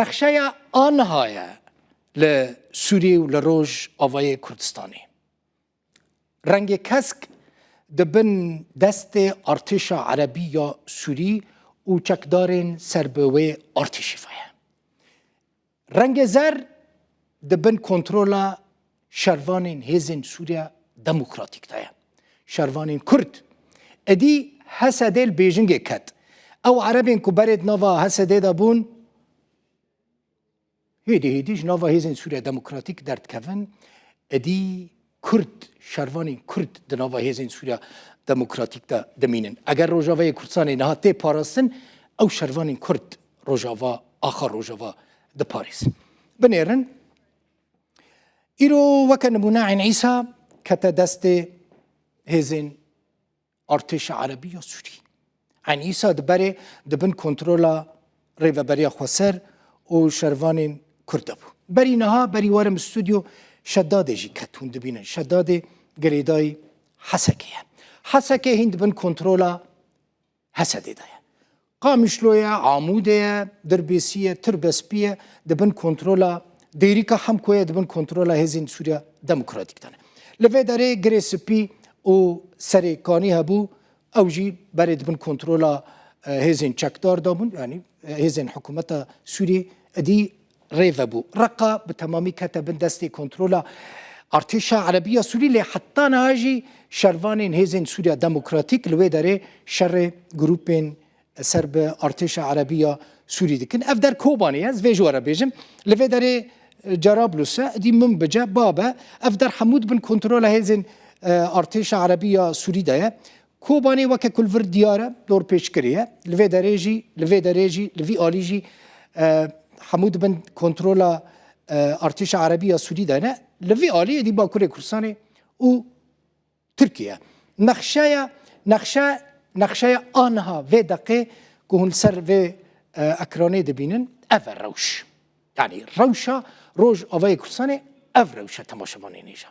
Nexşeya aniha ye li Sûriyê û li Roj avayê Kurdistanê. Rengê kesk di bin destê artêşa erebî ya Sûrî û çekdarên ser bi wê artêşî ve ye. Rengê zer di bin kontrola şervanên hêzên Sûriya Demokratîk de ye. Şervanên Kurd êdî HSD'ê li bêjingê ket. Ew erebên ku berê di nava HSD'ê de bûn, hêdî hêdî ji nava hêzên Sûriya Demokratîk derdikevin, êdî Kurd, şervanên Kurd di nava hêzên Sûriya Demokratîk de dimînin. Eger Rojavayê Kurdistanê niha tê parastin, ew şervanên Kurd Rojava, axa Rojava diparêzin. Binêrin. Îro weke nimûne Eyn Îsa kete destê hêzên artêşa Erebî ya Sûrî. Eyn Îsa di berê di bin kontrola Rêveberiya Xweser û şervanên Kurd de bû. Berî niha berî warim stûdyo Şedadê jî ket hûn dibînin. Şedadê girêdayî Hesekê ye. Hesekê hîn di bin kontrola Hesedê de ye. Qamişlo ye, Amûdê ye, Dirbêsî ye, Tirbespî ye, di bin kontrola Dêrîka Hemko ye, di bin kontrola hêzên Sûriya Demokratîk de ne. Li vê derê Girê Spî û Serê Kanî hebû, ew jî berê di bin kontrola hêzên çekdar de bûn, yanî hêzên hikûmeta Sûriyê. Idî rê vebû. Reqa bi temamî kete bin destê kontrola Artêşa Erebiya Sûrî lê heta niha jî şervanên hêzên Sûriya Demokratîk li wê derê şerê grûpên ser bi Artêşa Erebiya Sûrî dikin. Ev der Kobanê ye, ez vê jî were bêjim. Li vê derê Cerablus e, dî Munbice, Bab e. Ev der hemû di bin kontrola hêzên Artêşa Erebiya Sûrî de ye. Kobanê weke ku li vir diyar e, dorpêçkirê ye, li vê derê jî, li vê derê jî, li vî alî jî hemû dibin kontrola artêşa Erebî ya Sûdî de ne, li vî alî êdî Bakurê Kurdistanê û Tirkiye. Nexşeya nexşe nexşeya aniha vê deqê ku hûn li ser vê ekranê dibînin ev e rewş. Yanî rewşa Rojavayê Kurdistanê ev rewşa temaşevanê nêja.